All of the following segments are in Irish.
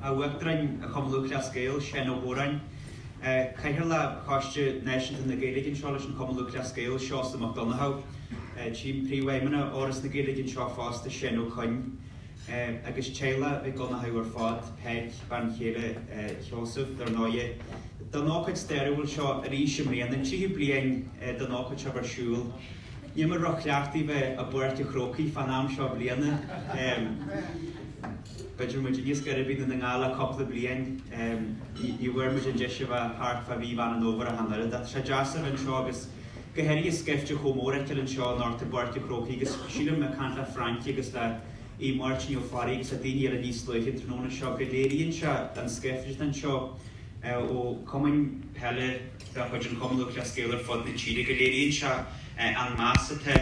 Uachtarán Chumann Lúthchleas Gael, Seán Ó hÓráin, Cathaoirleach Choiste Náisiúnta na Gaeilge anseo leis an Chumann Lúthchleas Gael, Seosamh Mac Donnchadha, tchím Príomhfheidhmeannach Fhoras na Gaeilge anseo fosta, Seán Ó Coinn, agus teaghlach Mhic Dhonnchadha ar fad, Peig, bean chéile Sheosaimh, dar ndóighe. Don ócáid stairiúil seo arís i mbliana, an tríú bliain don ócáid seo bheith ar siúl, níl mé róchleachta bheith i bPáirc a' Chrócaigh fán am seo bliana. B'fhéidir muid níos gaire do Dhún na nGall le cúpla bliain. Ní bhfuair muid an deis a bheith thart fá mhí Mheán an Fhómhair ach an oiread. Ach tá sé deas a bheith anseo agus go háirithe scaifte chomh mór a fheiceáil anseo anocht i bPáirc a' Chrócaigh agus sílim, ag caint le Francie agus le Aodh Máirtín Ó Fearraigh agus le daoine eile níos luaithe an tráthnóna seo, go léiríonn sé an scaifte atá anseo ó chumainn peile de chuid an Chumann Lúthchleas Gael ar fud na tíre, go léiríonn sé an meas atá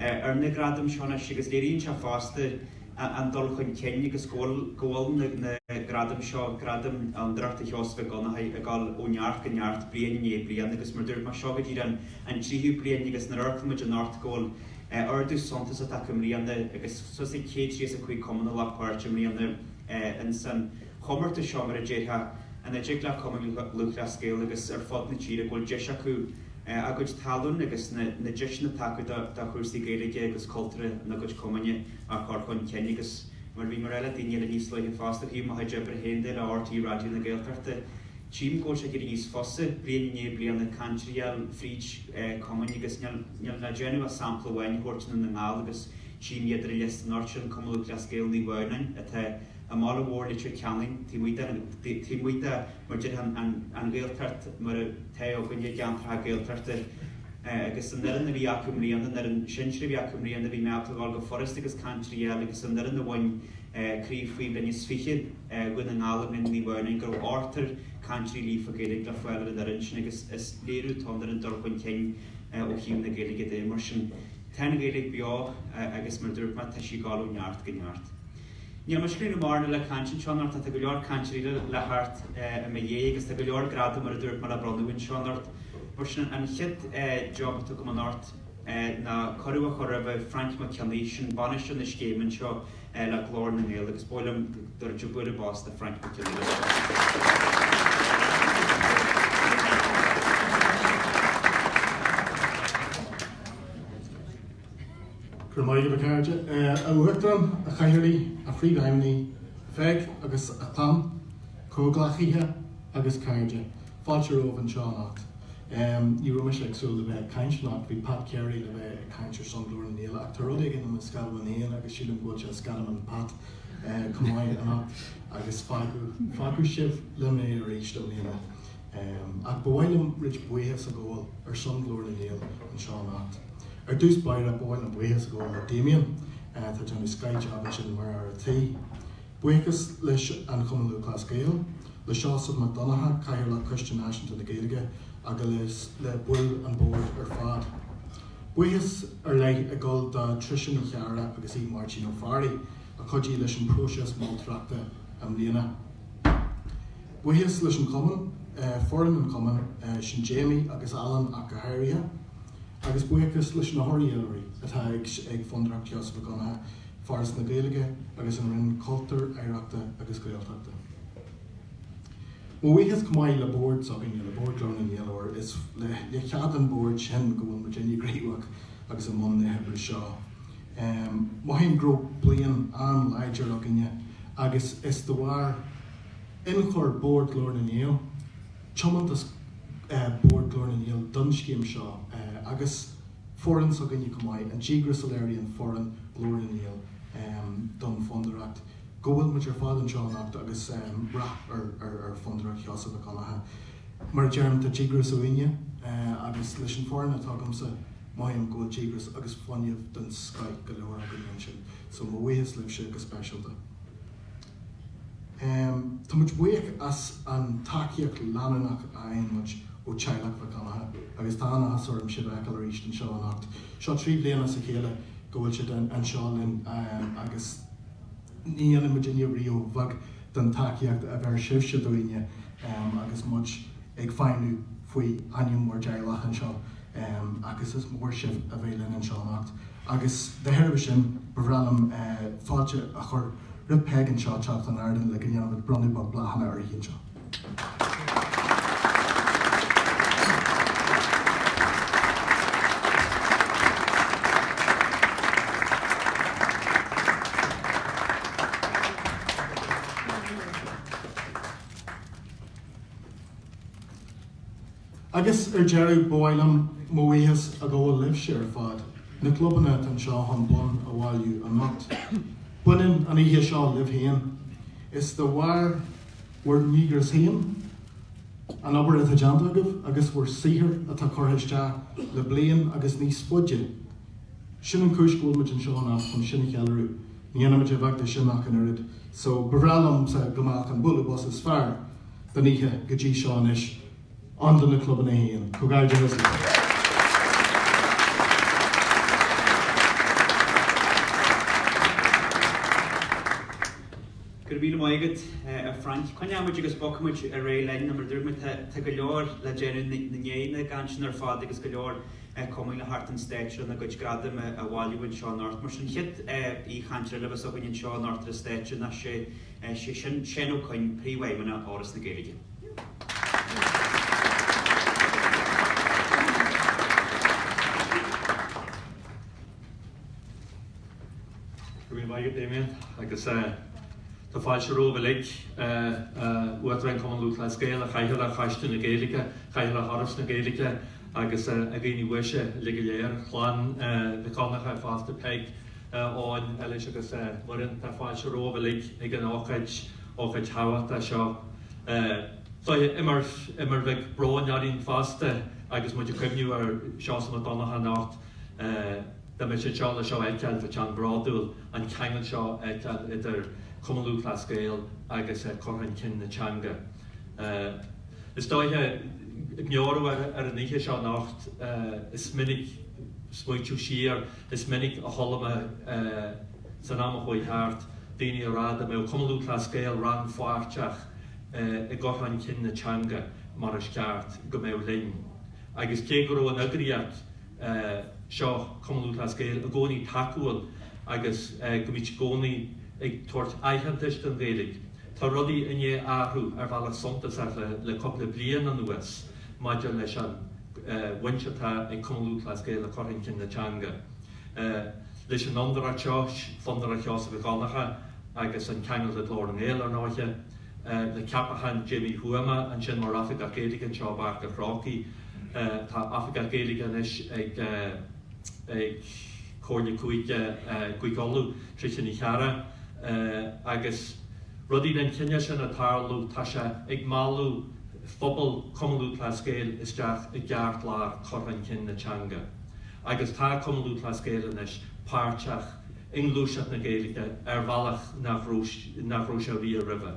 ar na gradaim seo anois agus léiríonn sé fosta, an dul chun cinn agus go bhfuil na gradaim seo, Gradam Fhondúireacht Sheosaimh Mhic Dhonnchadha, ag dul ó neart go neart, bliain i ndiaidh bliain agus mar a dúirt mé, seo go dtí an tríú bliain agus nuair a fhógraímid anocht, go bhfuil ardú suntasach acu i mbliana agus suas le 135 cumann a ghlac páirt i mbliana. Ins an chomórtas seo mar a déarfá ina dtig le Cumann Lúthchleas Gael agus ar fud na tíre go bhfuil deis acu a gcuid tallann agus na deiseanna atá acu do chúrsaí Gaeilge agus cultúrtha ina gcuid cumainn a chur chun cinn agus mar a bhí mé a rá le daoine eile níos luaithe fosta ó thaobh mo chuid oibre féin de le RTÉ Raidió na Gaeltachta tchím go bhfuil sé ag éirí níos fusa bliain i ndiaidh bliana cainteoirí a fháil fríd cumainn agus níl níl le déanamh ach sampla amháin a thabhairt i nDún na nGall agus tchím iad ar an liosta anocht sin Cumann Lúthchleas Gael Naomh Adhamhnáin atá I mbaile mór Leitir Ceanainn, taobh amuigh de mar a déarfá an Ghaeltacht mar atá i gcoinne gceantracha Gaeltachta. Agus an fhoireann a bhí acu i mbliana, an fhoireann sinsir a bhí acu i mbliana, bhí mé ábalta ghabháil go furasta agus cainteoirí a fháil agus an fhoireann a bhain Craobh Faoi Bhliain is Fiche Dhún na nGall i mbliana ní bhfeoirning go raibh ochtar cainteoirí líofa Gaeilge le fáil ar an fhoireann sin agus is léiriú atá ann ar an dul chun cinn ó thaobh na Gaeilge de. Mar sin, tá an Ghaeilge beo agus mar a dúirt mé, tá sí ag dul ó neart go neart. Níl mise ag gabháil a dhéanamh mórán eile caint anseo anocht, tá go leor cainteoirí eile le theacht i mo dhiaidh agus tá go leor gradam mar a dúirt mé le bronnadh anseo anocht. Mar sin, an chéad jab atá agam anocht ná cuireadh a chur roimh Frainc Mac Cionnaith, sin bainisteoir na scéime anseo le Glór na nGael agus ba mhaith liom go dtabharfaí bualadh bos do Frainc Mac Cionnaith é seo. Go raibh maith agat, a chairde. A Uachtarán, a Chathaoirligh, a Phríomhfheidhmeannaigh, a Pheig agus a chlann, comhghleacaithe agus cairde, fáilte romhaibh anseo anocht. Ní raibh mise ag súil le bheith ag caint anocht, bhí Pat Carey le bheith ag caint ar son Ghlór na nGael ach tá rud éigin i mo sceadamán féin agus sílim go bhfuil sé i sceadamán Pat chomh maith anocht agus fágfaidh sibh liom é arís i mbliana. Ach ba mhaith liom roinnt buíochas a ghabháil ar son Ghlór na nGael anseo anocht. Ar dtús báire, ba mhaith liom buíochas a ghabháil le Damien, atá ag déanamh scoth jab ansin mar fhear an tí. Buíochas leis an Chumann Lúthchleas Gael, le Seosamh Mac Donnacha, Cathaoirleach Coiste Náisiúnta na Gaeilge agus le baill an bord ar fad. Buíochas ar leith ag dul do Trisha Ní Chearra agus Aodh Máirtín Ó Fearraigh a chuidigh leis an próiseas moltóireachta i mbliana. Buíochas leis an chumann, foireann an chumainn, sin Jamie agus Alan ach go háirithe, agus buíochas leis na maoinitheoirí atá ag Fondúireacht Sheosaimh Mhic Dhonncha, Foras na Gaeilge agus an Roinn Cultúir, Oidhreachta agus Gaeltachta. Mo bhuíochas chomh maith le bord s'againne, le Bord Ghlór na nGael óir is le cead an bhoird sin go bhfuil muid uilig gníomhach agus i mbun na hoibre seo. Mothaím go raibh bliain an-láidir againne agus is de bharr. ionchur Bhord Ghlór na nGael, tiomantas Bhord Ghlór na nGael don scéim seo agus foireann s'againne chomh maith, an díogras a léiríonn foireann Ghlór na nGael don Fondúireacht, go bhfuil muid ar fad anseo anocht agus rath ar Fondúireacht Sheosaimh Mhic Dhonncha. Mar a deirim, tá díograis uainne agus leis an foireann atá agamsa, mothaím go bhfuil díogras agus fuinneamh den scoith go leor againn ansin. So mo bhuíochas libhse go speisialta. Tá muid buíoch as an tacaíocht leanúnach a fhaigheann muid ó teaghlach Mhic Dhonncha agus tá an-áthas orm sibh a fheiceáil arís anseo anocht. Seo trí bliana as a chéile go bhfuil sibh anseo linn agus ní dhéanann muidinne riamh a bheag den tacaíocht a bheir sibhse dúinne agus muid ag feidhmiú faoi ainm bhur dteaghlach anseo agus is mór sibh a bheith linn anseo anocht agus dá thairbhe sin ba bhreá liom fáilte a chur roimh Peig anseo teacht chun ardáin le go ndéanfar bronnadh bláthanna uirthi anseo. Agus ar deireadh, ba mhaith liom mo bhuíochas a ghabháil libhse ar fad, na clubanna atá anseo chun bonn a bhailiú anocht. Baineann an oíche seo libh féin. Is de bharr bhur ndíograis féin, an obair atá déanta agaibh agus bhur saothar atá curtha isteach le bliain agus níos faide. Sin an chúis go bhfuil muid anseo anocht, chun sin a cheiliúradh. Ní dhéanaimid a bheag de sin ach an oiread so ba bhreá liomsa go mbeadh an bualadh bos is fearr den oíche go dtí seo anois ann do na clubanna féin. Comhghairdeachas libh! Go raibh míle maith agat, a Frank. Coinneoimid agus bogfaimid ar aghaidh linn, nó mar a dúirt mé, tá go leor le déanamh i ndiaidh na gcainteanna ar fad agus go leor ag cumainn le teacht ar an stáitse lena gcuid gradam a bhailiú anseo anocht. Mar sin, an chéad chainteoir eile a bheas againn anseo anocht ar an stáitse ná, is é sin Seán Ó Coinn, Príomhfheidhmeannach Fhoras na Gaeilge. Go raibh maith agat Damien agus tá fáilte romhaibh uilig, a Uachtaráin Chumann Lúthchleas Gael, a Chathaoirligh Choiste na Gaeilge, a Chathaoirligh Fhoras na Gaeilge, agus a dhaoine uaisle uilig go léir, clann Mhic Dhonnacha fosta, Peig, Eoin, Eilís agus Muireann. Tá fáilte romhaibh uilig ag an ócáid, ócáid thábhachtach seo. Is oíche idir mhaith agus brón araon fosta agus muid ag cuimhniú ar Sheosamh Mac Donnacha anocht. Dá mbeadh sé anseo le seo a fheiceáil, bheadh sé an-bhródúil an ceangal seo a fheiceáil idir Cumann Lúthchleas Gael agus cur chun cinn na teanga. Is dóiche ag meabhrú ar an oíche seo anocht is mé ag smaointiú siar, is minic a chuala mé san am a chuaigh thart daoine ag rá dá mbeadh Cumann Lúthchleas Gael rannpháirteach i gcur chun cinn na teanga mar is ceart go mbeadh linn agus cé go raibh an eagraíocht seo Cumann Lúthchleas Gael i gcónaí tacúil agus go mbíodh i gcónaí ag tabhairt aitheantais don Ghaeilge. Tá rudaí i ndiaidh athrú ar bhealach suntasach le cúpla bliain anuas maidir leis an bhaint atá ag Cumann Lúthchleas Gael le cur chun cinn na teanga. Leis an Fhondúireacht seo, Fondúireacht Sheosaimh Mhic Dhonnacha agus an ceangal le Glór na nGael, ar ndóiche, le ceapachán Jamie Uí Thuama ansin mar Oifigeach Gaeilge anseo i bPáirc an Chrócaigh. Tá Oifigeach Gaeilge anois ag ag Comhairle Cúige Uladh, Tricia Ní Chearra, agus rudaí den chineál sin ag tarlú, tá sé ag mealladh phobal Chumann Lúthchleas Gael isteach i gceartlár chur chun cinn na teanga. Agus tá Cumann Lúthchleas Gael anois páirteach. i ngluaiseacht na Gaeilge ar bhealach nach raibh sé riamh roimhe.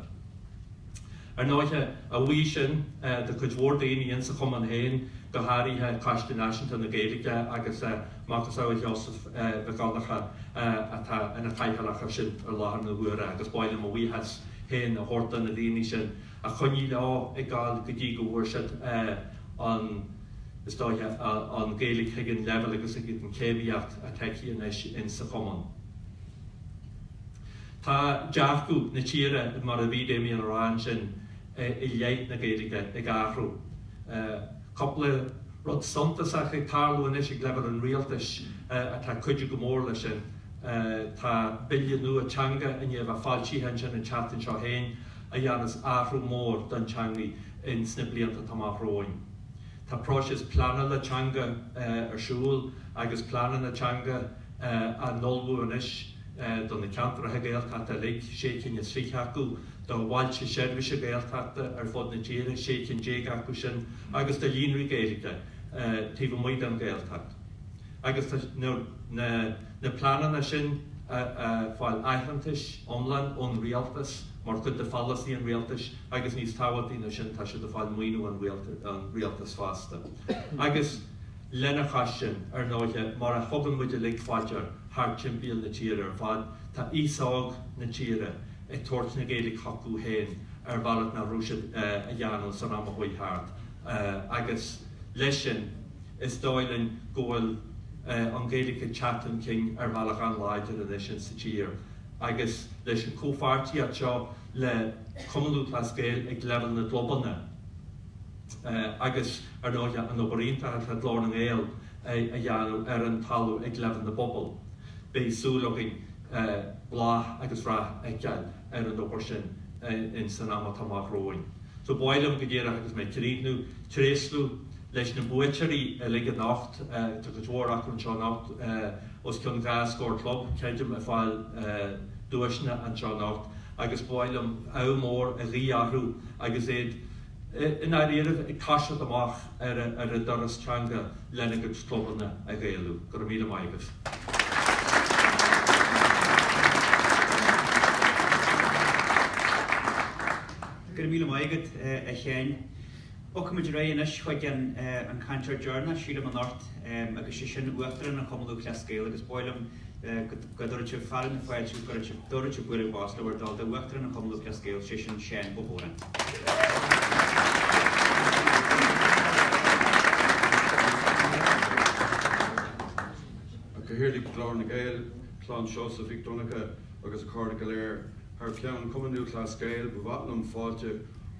Ar ndóighe, a bhuí sin do chuid mhór daoine ins a' chumann féin, go h-áirithe Coiste Náisiúnta na Gaeilge agus a macasamhail Sheosaimh Mhic Dhonnacha atá ina Chathaoirleach ar sin i láthair na huaire agus b'áil liom mo bhuíochas féin a thabhairt do na daoine sin a choinnigh leo ag gabhail go dtí go bhfuair siad an Ghaeilge ag an leibhéal agus ag an chéimíocht atá aici anois in sa chumann. Tá dearcadh na tíre mar a bhí Damien a rá ansin i leith na Gaeilge ag athrú. Tá cúpla rud suntasach ag tarlú anois ag leibhéal an rialtais atá ag cuidiú go mór leis sin. Tá bille nua teanga i ndiaidh a bheith foilsithe ansin an tseachtain seo féin a dhéanfas athrú mór don teangaidh in sna blianta atá amach romhainn. Tá próiseas pleanála teanga ar siúl agus pleananna teanga á n-ullmhú anois do na ceantracha Gaeltachta uilig, sé cinn is fiche acu, do bhailte seirbhíse Gaeltachta ar fud na tíre, sé cinn déag acu sin, agus do líonraí Gaeilge taobh amuigh den Ghaeltacht. Agus tá na pleananna sin ag fáil aitheantais iomlán ón Rialtas mar chuid de pholasaí an Rialtais, agus níos tábhachtaí ná sin tá siad ag fáil maoiniú ón rialtas fosta agus lena chois sin ar ndóighe mar a thugann muid uilig fá dtear thart timpeall na tíre ar fad tá aos óg na tíre ag tabhairt na Gaeilge chucu féin ar bhealach nach raibh siad a dhéanamh san am a chuaigh thart agus leis sin is dóigh liom go bhfuil an Ghaeilge ag teacht chun cinn ar bhealach an-láidir anois ins sa tír agus leis an chomhpháirtíocht seo le Cumann Lúthchleas Gael ag leibhéal na gclubanna agus ar ndóighe an obair iontach atá Glór na nGael a dhéanamh ar an talamh ag leibhéal na bpobal. Beidh súil againn bláth agus rath a fheiceáil ar an obair sin in san am atá amach romhainn. So ba mhaith liom go díreach agus mé ag críochnú, tréaslú leis na buaiteoirí uilig anocht. Tá cuid mhór acu anseo anocht. os cionn dhá scór club creidim ag fáil duaiseanna anseo anocht agus ba mhaith liom ádh mór a ghuí orthu agus iad i ndáiríribh ag taisteal amach ar a dturas teanga lena gcuid clubanna a Ghaelú. Go raibh míle maith agat. Go raibh míle maith agat a Sheáin. Rachaidh muid ar aghaidh anois chuig an cainteoir deireanach, sílim, anocht agus sé sin Uachtarán an Chumann Lúthchleas Gael agus ba mhaith liom go dtabharfadh sibh fearadh na fáilte agus go dtabharfadh sibh dtabharfadh sibh bualadh bos le bhur dtoil do Uachtarán an Chumann Lúthchleas Gael, sé sin Seán Ó hÓráin. Cathaoirleach Ghlór na nGael, Clann Seosamh Mhic Dhonncha agus a chairde go léir thar ceann Cumann Lúthchleas Gael, ba mhaith liom fáilte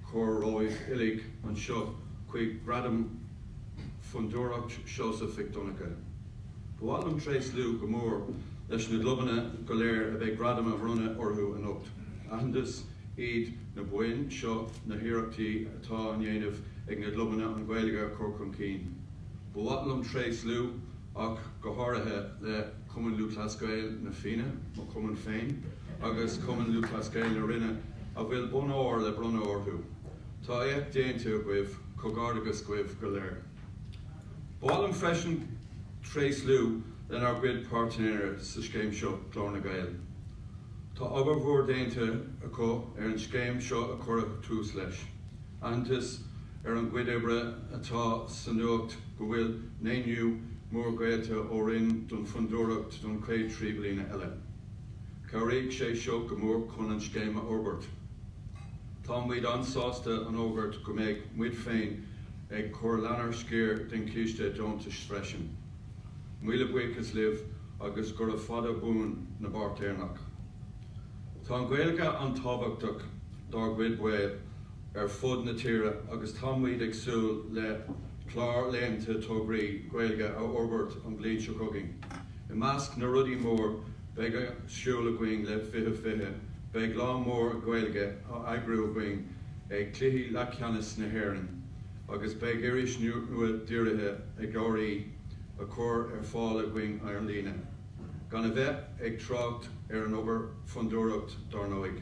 A chur romhaibh uilig anseo chuig Gradaim Fondúireacht Sheosaimh Mhic Dhonncha. Ba mhaith liom tréaslú go mór leis na gclubanna go léir a bheidh gradaim á mbronnadh orthu anocht. Aitheantas iad na boinn seo ar na hiarrachtaí atá á ndéanamh ag na gclubanna an Ghaeilge a chur chun cinn. Ba mhaith liom tréaslú ach go háirithe le. Cumann Lúthchleas Gael Na Fianna, mo chumann féin, agus Cumann Lúthchleas Gael na Rinne a bhfuil bonn óir le bronnadh orthu. Tá éacht déanta agaibh, comhghairdeachas daoibh go léir. Ba mhaith liom freisin tréaslú lenár gcuid páirtnéirí sa scéim seo, Glór na nGael. Tá obair mhór déanta acu ar an scéim seo a cuireadh tús leis. Aitheantas ar a gcuid oibre atá sa nuacht go bhfuil maoiniú mór geallta ón Roinn don Fhondúireacht don chéad trí bliana eile. Cabhróidh sé seo go mór chun an scéim a fhorbairt. Tá muid an-sásta a fhógairt go mbeidh muid féin ag cur lenár sciar den chiste deontais freisin. Míle buíochas libh agus gura fada buan an pháirtnéireacht. Tá an Ghaeilge an-tábhachtach dár gcuid baill. ar fud na tíre agus tá muid ag súil le clár leathan tograí Gaeilge a fhorbairt an bhliain seo chugainn. I measc na rudaí móra a bheidh ar siúl againn le 20 20, beidh lá mór Gaeilge á eagrú againn ag Cluichí Leathcheannais na hÉireann agus beidh iris nua dírithe ar CLG á cur ar fáil againn ar líne, gan a bheith ag trácht ar an obair Fondúireacht dár ndóigh.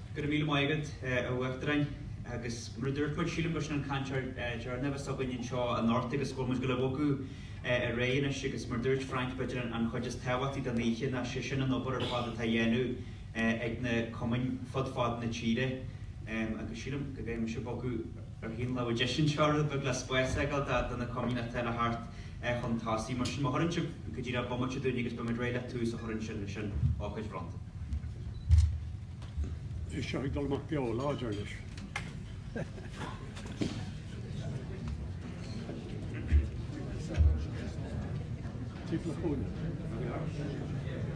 Go raibh míle maith agat, a Uachtaráin. Agus mar a dúirt muid, sílim gur sin an cainteoir deireanach s'againn anseo anocht agus go bhfuil muid ag gabháil a bhogadh ar aghaidh anois agus mar a dúirt Frank, b'fhéidir an chuid is tábhachtaí den oíche ná sé sin an obair ar fad atá á dhéanamh ag na cumainn fud fad na tíre agus sílim go bhféadfaimis bogadh ar thaobh na láimhe deise anseo rud beag le spás a fhágáil do na cumainn atá le theacht é chun tosaigh. Mar sin, má thugann sibh cúpla bomaite dúinn agus beimid réidh le tús a chur ansin leis an ócáid bhronnta. Beidh seo ag dul amach beo láidir anois. Tíocht le chúinne.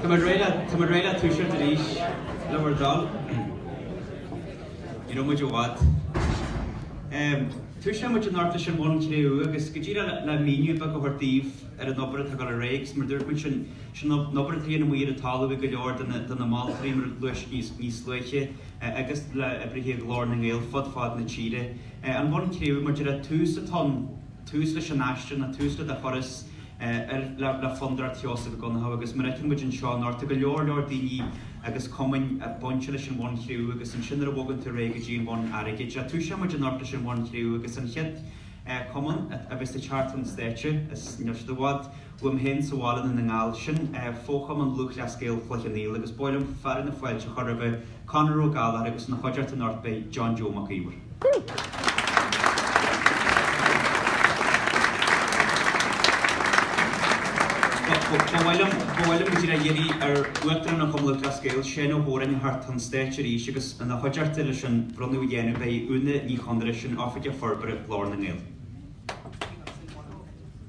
Tá muid réidh le, tá muid réidh le toiseacht arís le bhur dtoil. Ní raibh muid i bhfad. Em, toiseoidh muid anocht leis an Bhonn Cré-umha agus go díreach le, le míniú beag a thabhairt daoibh ar an obair atá ag dul ar aghaidh agus mar a dúirt muid sin, sin an obair atá á dhéanamh amuigh ar an talamh ag go leor de na, de na moltóirí mar a luadh níos, níos luaithe eh, agus le oibrithe Ghlór na nGael fud fad na tíre. Eh, an Bonn Cré-umha, maidir le tús atá ann, tús leis an aistear nó tús le do thuras ar le Fondúireacht Sheosaimh Mhic Dhonncha agus mar a fheiceann muid anseo anocht tá go leor leor daoine agus cumainn bainte leis an Bhonn Cré-umha agus ansin nuair a bhogann tú ar aghaidh go dtí an Bhonn Airgid toiseoidh muid anocht leis an Bhonn Cré-umha agus an chéad cumann a bheas ag teacht chun stáitse is níl siad i bhfad Uaim féin sa bhaile i nDún na nGall, sin é fochumann Lúthchleas Gael Chloich Cheann Fhaola agus ba mhaith liom fearadh na fáilte a chur roimh Conor Ó Gallchóir agus ina chuideachta anocht beidh John Joe Mac Íomhair. Ba mhaith liom ba mhaith liom go díreach iarraidh ar Uachtarán Chumann Lúthchleas Gael, Seán Ó hÓráin teacht chun stáitse arís agus ina chuideachta leis an bhronnadh a dhéanamh beidh Úna Ní Chonaire, sin Oifigeach Forbartha Ghlór na nGael.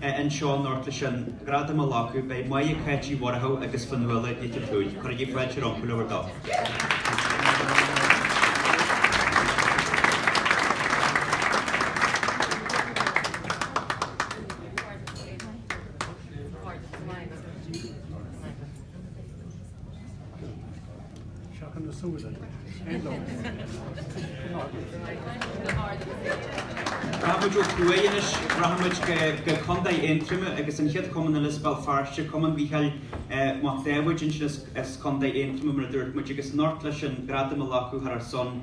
anseo anocht leis an gradam a ghlacadh. Beidh Moya, Cáit Uí Mhuireadhaigh agus Fionnuala Nic an tSúil. Cuirigí fáilte rompu le bhur dtoil. Seachain na súile. Cén dóigh? Rachaimid ó thuaidh anois. Rachaimid go Contae Aontroma agus an chéad chumann eile as Béal Feirste, Cumann Mhichíl Mhic Dháibhéid. ansin as Contae Aontroma mar a dúirt muid agus anocht leis an gradam a ghlacadh thar a son.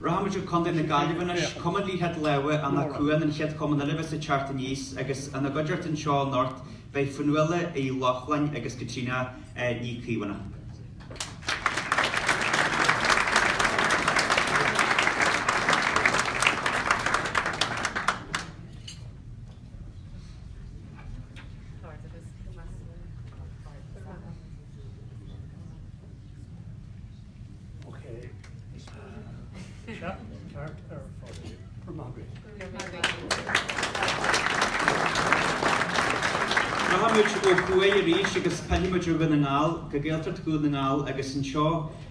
Rachaimid go Contae na Gaillimhe anois. Cumann Liathróid Láimhe Anach Cuain an chéad chumann eile a bheas ag teacht aníos agus ina gcuideachta anseo anocht beidh Fionnuala Uí Lochlainn agus Caitríona Ní Chaomhánaigh. Rachaimid ó thuaidh arís agus rachaimid go Dún na nGall go Gaeltacht Dhún na nGall agus anseo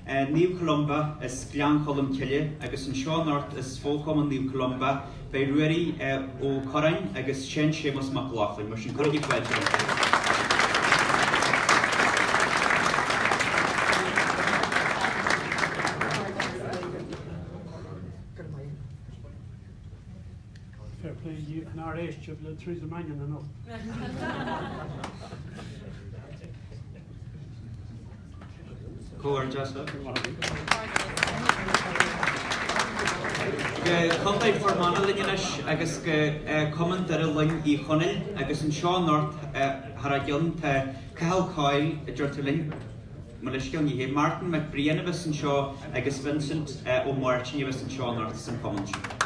Naomh Columba as Gleann Cholm Cille agus anseo anocht as fo-chumann Naomh Columba beidh Ruairí Ó Corráin agus Seán Séamus Mac Lochlainn. Mar sin, cuirigí fáilte rompu. Fair play díobh nár éist sibh le Theresa Mannion anocht. Comhghairdeas libh. Go Contae Fhear Manach linn anois agus go Cumann Doire Loinn Uí Chonaill agus anseo anocht thar a gceann tá Cathal Coyle a deirtear linn, mo leithscéal ní hé Martin Mac Briain a bheas anseo agus Vincent Ó Máirtín a bheas anseo anocht san chumann sin.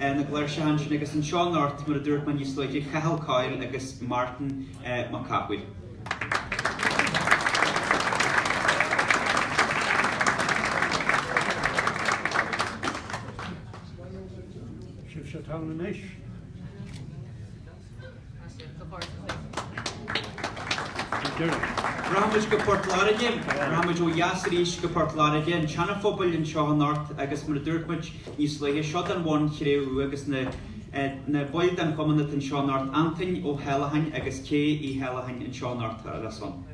ar na gCláirseach ansin agus anseo anocht mar a dúirt mé níos luaithe, Cathal Coyle agus Martin Mac Cathmhaoil. Rachaimid go Port Láirge. Rachaimid ó dheas arís go Port Láirge, an tSeanaphobail, anseo anocht agus mar a dúirt muid níos luaithe, seo don bhonn chré-umha agus na na baill den chumann atá anseo anocht, Antain Ó hAllacháin agus Kay Uí hAllacháin anseo anocht ar a son.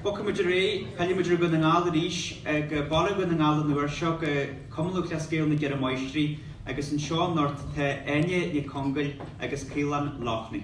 Bogfaidh muid ar aghaidh, pillfidh muid ar Dhún na nGall arís ag Baile Dhún na nGall an uair seo go Cumann Lúthchleas Gael na gCeithre Máistrí agus anseo anocht tá Áine Nic Congail agus Caolán Loughney.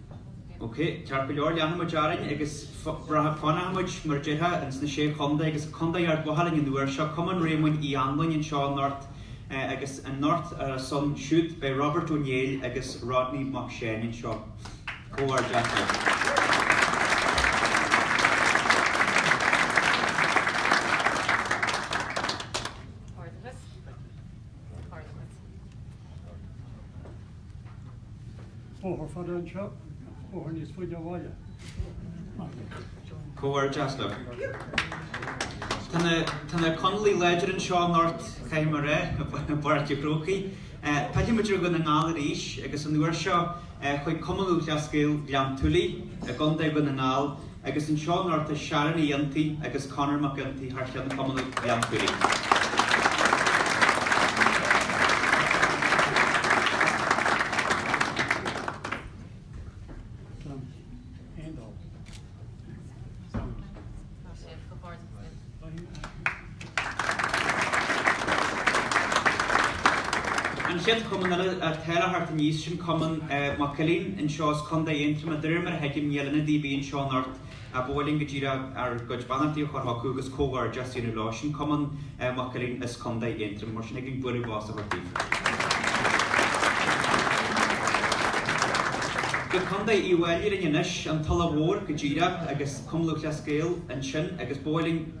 OK, ceart go leor, leanfaidh muid orainn agus braithfidh, fanfaidh muid, mar a déarfá, ins na Sé Chontae agus go Contae Ard Mhacha linn an uair seo, Cumann Réamoinn Uí Anluain anseo anocht agus anocht ar a son siúd beidh Robert Ó Néill agus Rodney Mac Seáin anseo. Comhghairdeas leo. Bóthar fada anseo, bóthar níos faide ó bhaile. Comhghairdeachas. Tá na Conallaigh láidir anseo anocht caithfidh mé a rá i bPáirc a' Chrócaigh. Pillfidh muid ar Dhún na nGall arís agus an uair seo chuig Cumann Lúthchleas Gael Ghleann tSúilí i gContae Dhún na nGall. Agus anseo anocht tá Sharon Uí Fhionntaigh agus Conor Mac Fhionntaigh thar cheann Chumann Ghleann tSúilí. An chéad chumann eile atá le teacht aníos sin Cumann Mac Uilín anseo as Contae Aontroma. De réir mar a thuigim níl ionadaí linn anseo anocht ach ba mhaith linn go díreach ár gcuid beannachtaí a chur chucu agus comhghairdeas a dhéanamh leo. Sin Cumann Mac Uilín as Contae Aontroma. Mar sin thig linn bualadh bos a thabhairt daofa. Go Contae Uíbh Fhailí linn anois, an Tulach Mhór go díreach agus Cumann Lúthchleas Gael ansin agus ba mhaith linn.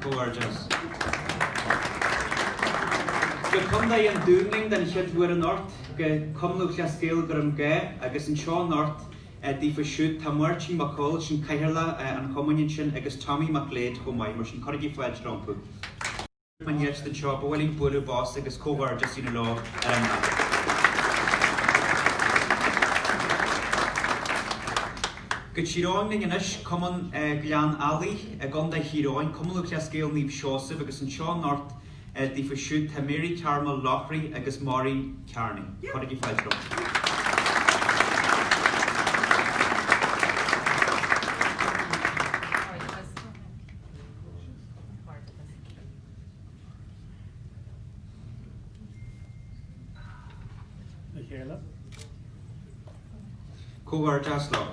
Comhghairdeas! Go Contae an Dúin linn den chéad uair anocht, go Cumann Lúthchleas Gael Dhroim Gath agus anseo anocht daofa siúd tá Máirtín Mac Cóil, sin Cathaoirleach an chumainn ansin agus Tommy Mac Léid chomh maith mar sin cuirigí fáilte rompu. An dheis den seo, ba mhaith linn bualadh bos agus comhghairdeas a dhéanamh leo ar an mbealach. Go Tír Eoghain linn anois, Cumann Ghleann Eallaigh i gContae Thír Eoghain, Cumann Lúthchleas Gael Naomh Seosaimh agus anseo anocht daofa siúd tá Mary Carmel Loughrey agus Maureen Kearney. Cuirigí fáilte rompu. le chéile. Comhghairdeas leo.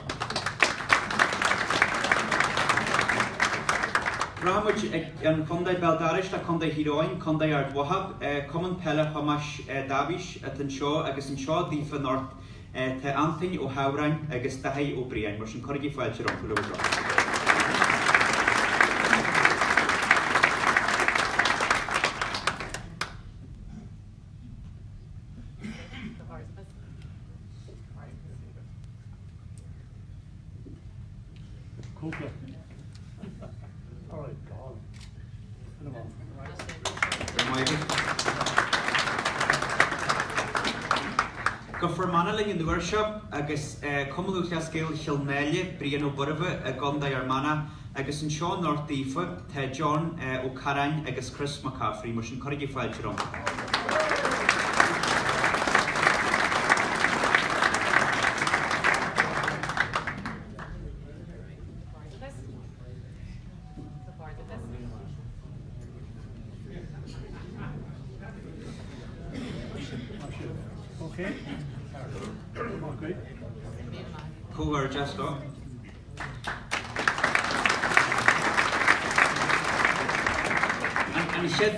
Rachaidh muid chun an chontae béal dorais, Contae Thír Eoghain, Contae Ard Mhacha, Cumann Peile Thomáis Dáibhís atá anseo agus anseo daofa anocht Tá Antaine Ó hAmhráin agus Daithí Ó Briain, mar sin cuirigí fáilte rompu, le bhur dtoil. Go Fear Manach linn an uair seo agus Cumann Lúthchleas Gael Chill Náile, Brian Bóirmhe i gContae Fhear Manach, Agus anseo anocht daofa, tá John Ó Carráin agus Chris Mac Cafraidh, mar sin cuirigí fáilte rompu. An chéad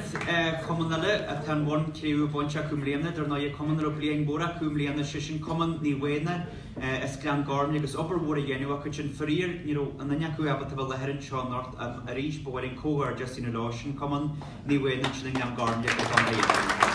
cumann eile atá an bonn cré-umha bainte acu i mbliana, dar ndóigh, cumann a raibh bliain mhór acu i mbliana, sé sin cumann Naomh Éanna as Gleann Ghormlaithe agus obair mhór á dhéanamh acu ansin. Faraor, ní raibh aon duine acu ábalta a bheith i láthair anseo anocht ach arís ba mhaith linn comhghairdeas a dhéanamh leo. Sin cumann Naomh Éanna sin as Gleann Ghormlaithe i gContae Aontroma.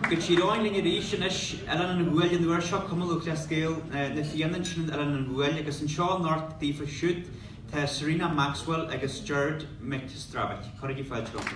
Go Tír Eoghain linn arís anois. Oileán an Ghuail an uair seo, Cumann Lúthchleas Gael na Fianna ansin in Oileán an Ghuail agus anseo anocht daofa siúd tá Serena Maxwell agus Gerard McStravick. Cuirigí fáilte rompu.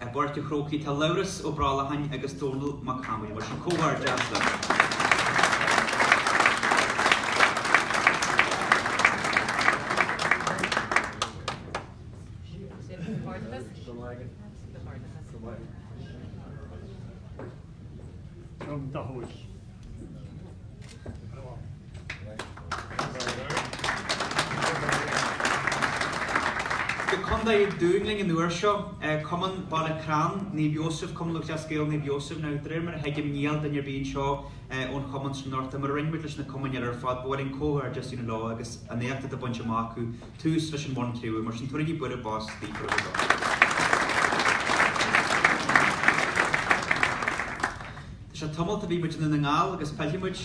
I bPáirc a' Chrócaigh tá Labhrás Ó Brollacháin agus Dónall Mac Amaill. Mar sin, comhghairdeas libh. Go Contae an Dúin linn an uair seo, Cumann Baile Crann Naomh Iósaf, Cumann Lúthchleas Gael Naomh Iósaf. Now de réir mar a thuigim níl duine ar bith anseo ón chumann sin anocht ach mar a rinne muid leis na cumainn eile ar fad, ba mhaith linn comhghairdeas a dhéanamh leo agus an éacht atá bainte amach acu, tús leis an mbonn cré-umha. Mar sin tabharaigí bualadh bos daofa ar fad. Is tamallt ó bhí muid i nDún na nGall agus pillfidh muid,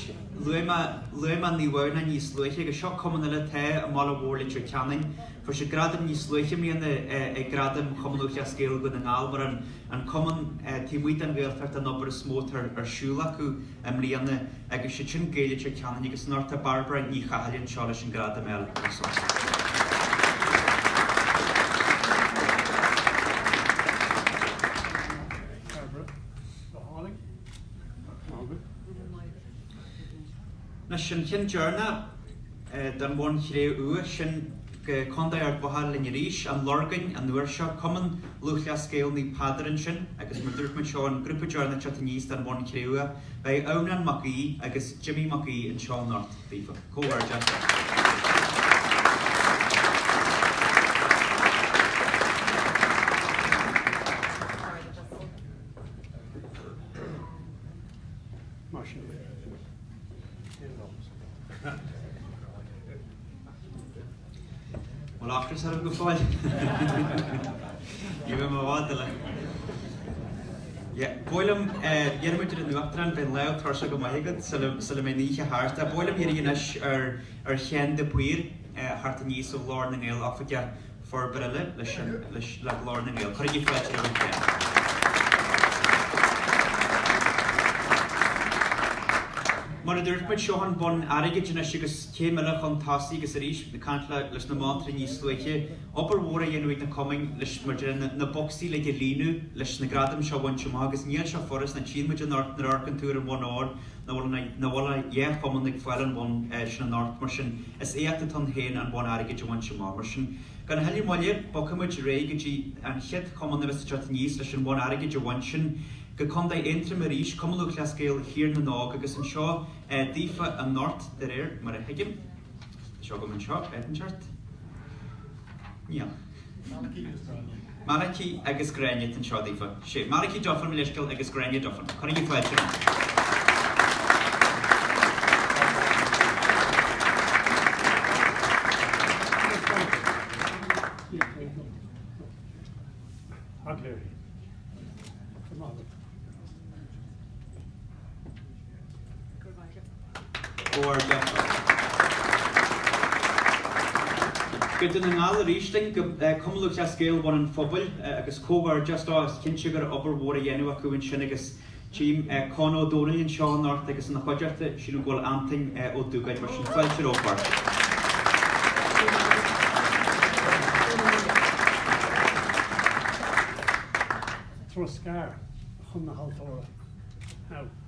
luaigh mé, luaigh mé Naomh Adhamhnáin níos luaithe agus seo cumann eile atá i mbaile mhór Leitir Ceanainn, fuair siad gradam níos luaithe i mbliana ag Gradaim Chumann Lúthchleas Gael Dhún na nGall mar an an cumann taobh amuigh den Ghaeltacht an obair is mó atá ar siúl acu i mbliana agus siad sin Gaeil Leitir Ceanainn agus anocht tá Barbara Ní Chathail anseo leis an gradam eile a thabhairt dóibh. Anois, an ceann deireanach don bhonn chré-umha, sin go Contae Ard Mhacha linn arís, An Lorgain an uair seo, Cumann Lúthchleas Gael Naomh Peadar ansin agus mar dúirt muid seo an grúpa deireanach teacht aníos don bhonn chré-umha. Beidh Odhrán Mac Aoidh agus Jimmy Mac Aoidh anseo anocht daofa. Comhghairdeas. Mar sin féin. Bhfuil ocras oraibh go fóill? Ní raibh i bhfad le. Yeah, ba mhaith liom, dhein muid an Uachtarán, beidh an lámh tuirseach go maith agat sula sula mbeidh an oíche thart. Ba mhaith liom iarraidh anois ar Sheán de Paor teacht aníos ó Ghlór na nGael, oifigeach. Forbartha leis an, le Glór na nGael. Cuirigí fáilte le Ruth Bennett. Mar a dúirt muid, seo an bonn airgid anois agus céim eile chun tosaigh agus arís ag caint leis na monatóirí níos luaithe. Obair mhór á dhéanamh ag na cumainn leis mar a déarfá na bocsaí uilig a líonadh leis na gradaim seo a bhaint amach agus níl sé furast nó tchíonn muid anocht nuair a amharcann tú ar an bhonn óir Nach bhfuil ach dhá chumann ag fáil an bhonn sin anocht mar sin is éacht atá ann féin an bonn airgid a bhaint amach. Mar sin, gan a thuilleadh moille, bogfaidh muid ar aghaidh go dtí an chéad chumann a bheas ag teacht aníos leis an bhonn airgid a bhaint, sin go Contae Aontroma arís, Cumann Lúthchleas Gael Thír na nÓg, agus anseo daofa anocht de réir mar a thuigim. Tá sé agam anseo, áit inteacht. Níl. Malachy agus Gráinne atá anseo daofa. Sé Malachy Duffin, mo leithscéal, agus Gráinne Duffin. Cuirigí fáilte rompu. Go Dún na nGall arís linn go Cumann Lúthchleas Gael Bhun an Phobail agus comhghairdeas leo, is cinnte go raibh obair mhór á dhéanamh acu ansin agus tím Con Ó Domhnaill anseo anocht agus ina chuideachta, sílim go bhfuil Antoin Ó Dúgáin mar sin fáilte rompu beirt. Troscadh chun na haltóra.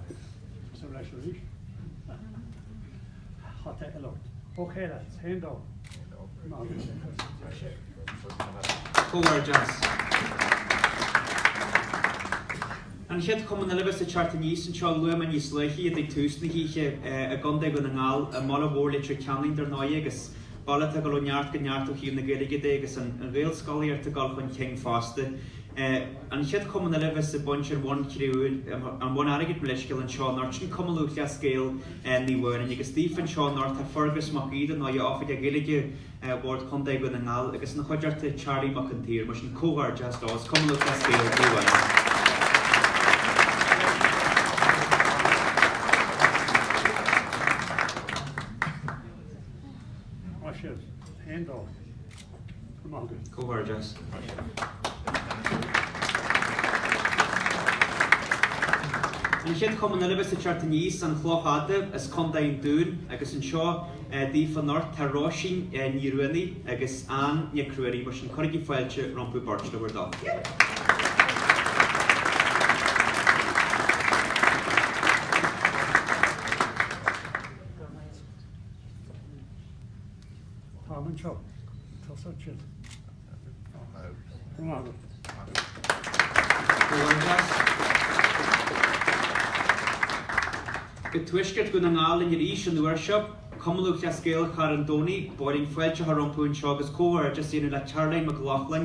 Agus is ar ais arís. Hata eile ort. Ok lads, haon dó? Haon dó. Ná bí sé cos. Tá sé. Comhghairdeas. An chéad chumann eile a bheas ag teacht aníos anseo luaigh mé níos luaithe iad ag tús na hoíche i gContae Dhún na nGall, i mbaile mhór Leitir Ceanainn dar ndóigh agus baile atá ag dul ó neart go neart ó thaobh na Gaeilge de agus an Ghaelscolaíocht ag dul chun cinn fosta. An chéad chumann eile a bheas ag baint an Bhonn Chré-umha an Bhonn Airgid mo leithscéal anseo anocht sin Cumann Lúthchleas Gael Naomh Adhamhnáin agus daofa anseo anocht tá Fergus Mac Aoidh atá ina Oifigeach Gaeilge Bhord Chontae Dhún na nGall agus ina chuideachta Charlie Mac an tSaoir mar sin comhghairdeas le Cumann Lúthchleas Gael Naomh Adhamhnáin. An chéad chumann eile a bheas ag teacht aníos, An Chloch Fhada as Contae an Dúin agus anseo daofa anocht tá Róisín Ní Ruanaidh agus Ann Nic Ruairí, mar sin cuirigí fáilte rompu beirt, le bhur dtoil. Táim anseo. Tusa ansin. Go raibh maith agat. I dtuaisceart Dhún na nGall linn arís an uair seo, Cumann Lúthchleas Gael Charn Domhnaigh, ba mhaith linn fáilte a chur rompu anseo agus comhghairdeas a dhéanamh le Caroline McLaughlin,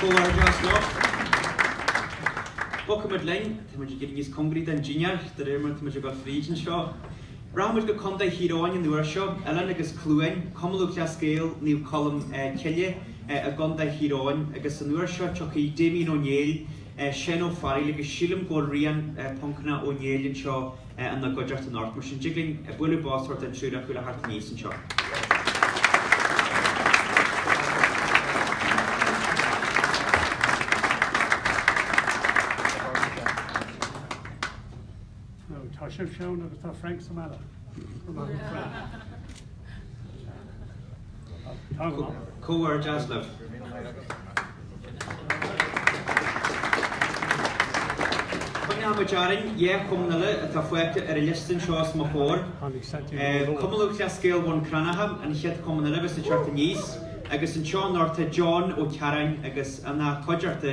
Comhghairdeas leo. Bogfaidh muid linn, tá muid ag éirí níos cóngaraí don dinnéar de réir mar atá muid ag dul fríd anseo. Rachaidh muid go Contae Thír Eoghain an uair seo, Oileán agus Cluain, Cumann Lúthchleas Gael Naomh Colm Cille i gContae Thír Eoghain agus an uair seo tiocfaidh Damien Ó Néill, Shane Ó Fearghail agus sílim go bhfuil Rian, Poncanna, Ó Néill anseo. ina gcuideachta anocht, mar sin dtig linn bualadh bos a thabhairt don triúr acu le theacht aníos anseo. Tá sibh seann agus tá Frank sa mbealach. Comhghairdeas libh! Coinneoimid orainn le cumainn eile atá fágtha ar an liosta anseo os mo chomhair. Cumann Lúthchleas Gael Bhun Cranncha an chéad chumann eile a bheas ag teacht aníos agus anseo anocht tá John Ó Cearáin agus ina chuideachta.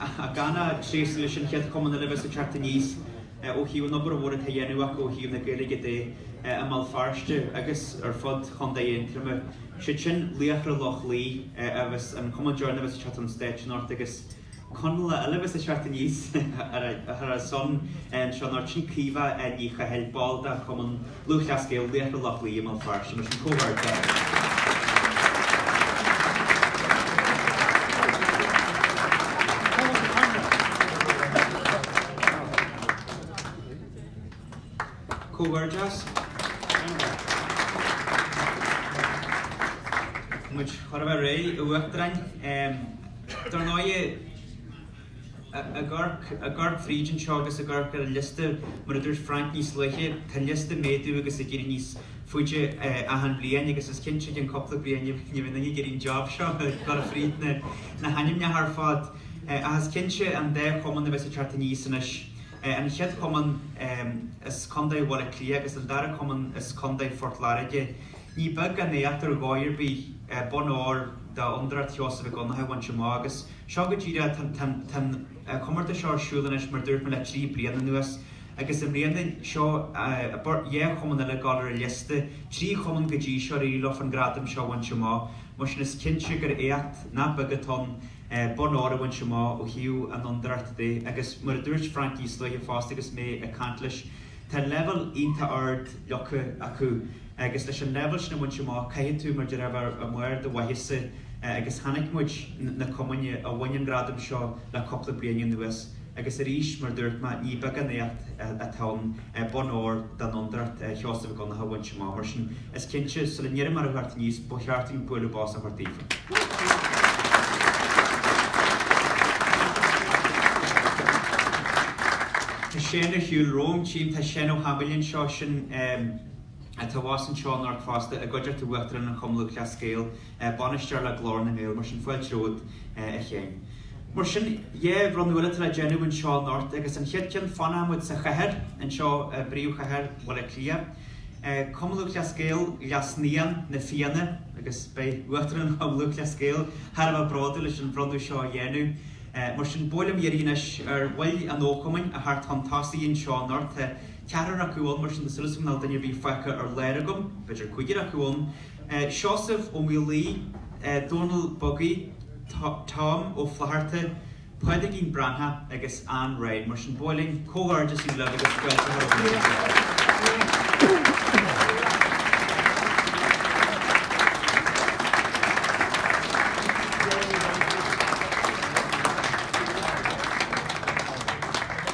ach gan a thréaslú leis an chéad chumann eile a bheas ag teacht aníos ó thaobh an obair mhór atá á dhéanamh acu ó thaobh na Gaeilge de i mBéal Feirste agus ar fud Chontae Aontroma. Siad sin Laochra Loch Lao agus an cumann deireanach a bheas ag teacht chun stáitse anocht agus Conallach eile a bheas ag teacht aníos thar a shon anseo anocht. Sin Caoimhe Ní Chathail, ball de Chumann. Lúthchleas Gael, Laochra Loch Lao i mBéal Feirste, mar sin, comhghairdeas! Comhghairdeas! Muid chóir a bheith réidh a Uachtaráin. Dar ndóigh, I gCorca Bhríde anseo agus i gCorca ar an liosta, mar a dúirt Frainc níos luaithe, tá an liosta ag méadú agus ag éirí níos faide achan bhliain agus is cinnte i gceann cúpla bliain ní bheidh duine ag iarraidh an job seo, gabháil fríd na hainmneacha ar fad. Ach is cinnte an dá chumann a bheas ag teacht aníos anois. An chéad chumann as Contae Bhaile Átha Cliath agus an dara cumann as Contae Phort Láirge. Ní beag an éacht ar dhóigh ar bith bonn óir d'Fhondúireacht Sheosaimh Mhic Dhonncha a bhaint amach agus, Seo go díreach, tá an comórtas seo ar siúl anois mar dúirt mé le trí bliana anuas agus i mbliana seo dhá chumann eile ag gabháil ar an liosta, trí chumann go dtí seo ar éirigh leo an gradam seo a bhaint amach, mar sin is cinnte gur éacht nach beag atá ann bonn óir a bhaint amach ó thaobh an fhondúireachta de agus mar a dúirt Frank níos luaithe fosta agus mé ag caint leis, tá leibhéal iontach ard leagtha acu. agus leis an leibhéal sin a bhaint amach caithfidh tú, mar deir muid, bheith ar bharr do mhaitheasa agus chonaic muid, na cumainn a bhain an gradam seo le cúpla bliain anuas agus arís mar dúirt mé ní beag an éacht atá ann bonn óir den Fhondúireacht Sheosaimh Mhic Dhonnacha a bhaint amach mar sin is cinnte sula n-iarraim orthu theacht aníos ba cheart dúinn bualadh bos a thabhairt daofa. Tá Seán ina shuí romham, tchím, tá Seán Ó hAdhmaill linn anseo, sin. Atá abhus anseo anocht fosta i gcuideachta Uachtarán an Chumainn Lúthchleas Gael, Bainisteoir le Glór na nGael, mar sin fáilte romhat a Sheáin. Mar sin dhá bhronnadh eile atá le déanamh anseo anocht agus an chéad cheann fanfaidh muid sa chathair anseo i bpríomhchathair Bhaile Átha Cliath. Cumann Lúthchleas Gael Ghlas Naíon na Fianna agus beidh Uachtarán an Chumainn Lúthchleas Gael thar a bheith bródúil leis an bhronnadh seo a dhéanamh. Mar sin ba mhaith liom iarraidh anois ar bhaill an chumainn a theacht chun tosaigh anseo anocht. Tá. Ceathrar acu ann, mar sin tá súil agam nach bhfuil duine ar bith fágtha ar lár agam, b'fhéidir cúigear acu ann, Seosamh Ó Maolalaí, Dónal Buggy, Tom Ó Flatharta, Pádraigín Breathnach agus Ann Ryan. Mar sin ba mhaith linn comhghairdeas a ghabháil libh agus scoilt a thabhairt don Ghaeltacht.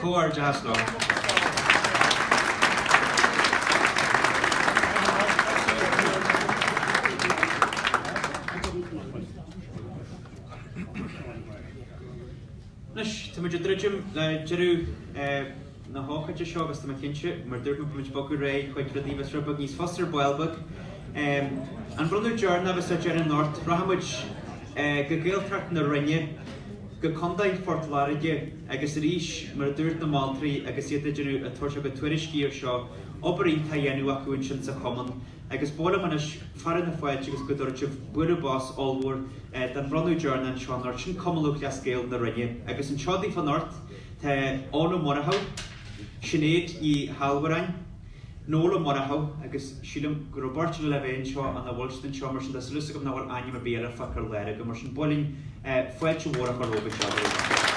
Comhar deas leo. Anois támuid ag druidim le deireadh na hócáide seo agus tá mé cinnte, mar dúirt mé, go mbeidh muid ag bogadh réidh chuig rudaí a bheas rud beag níos fusa ar ball beag. An bronnadh deireanach agus ar deireadh anocht, rachaidh muid go Gaeltacht na Rinne, go Contae Phort Láirge. Agus arís, mar a dúirt na moltóirí agus iad ag déanamh a dtuairiscí ar seo, obair iontach á dhéanamh acu ansin sa chumann. Agus ba mhaith liom anois fearadh na fáilte agus go dtabharfaidh sibh bualadh bos ollmhór don bhronnadh deireanach anseo anocht. Sin Cumann Lúthchleas Gael na Rinne. Agus anseo daofa anocht tá Eoin Ó Murchadha, Sinéad Ní hAllmhuráin, Nuala Murchadha agus sílim go raibh Orla le bheith anseo an bhfuil siad anseo mar sin tá súil agam nach bhfuil ainm ar bith eile fágtha ar lár agam mar sin ba mhaith linn fáilte mhór a chur romhaibh anseo go luath.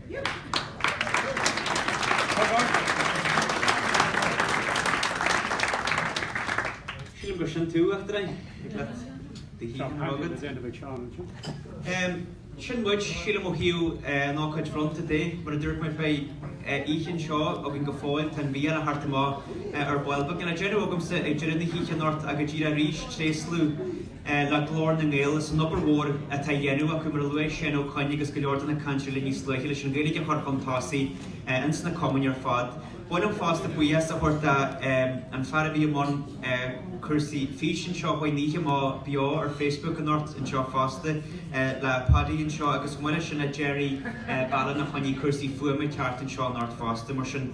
Sílim gur sin tú, Uachtaráin, ag labhairt do Thigh na Rogha. Sin muid, sílim, ó thaobh an ócáid bhronnta de. Mar a dúirt mé beidh oíche anseo againn go fóill, tá an mhí eile thart amuigh ar ball beag. Tá deifir agamsa ag deireadh na hoíche anocht, ach go díreach arís, tréaslú. le Glór na nGael as an obair mhór atá á dhéanamh acu, mar a luaigh Seán Ó Coinn agus go leor de na cainteoirí eile níos luaithe, leis an Ghaeilge a chur chun tosaigh ins na cumainn ar fad. Ba mhaith liom fosta buíochas a thabhairt don fhear a bhí i mbun cúrsaí fís anseo faoi choinne na hoíche, muid beo ar Facebook anocht anseo fosta, le Paddy anseo agus maille sin le Gerry Ballina a choinnigh cúrsaí fuama ceart anseo anocht fosta, mar sin.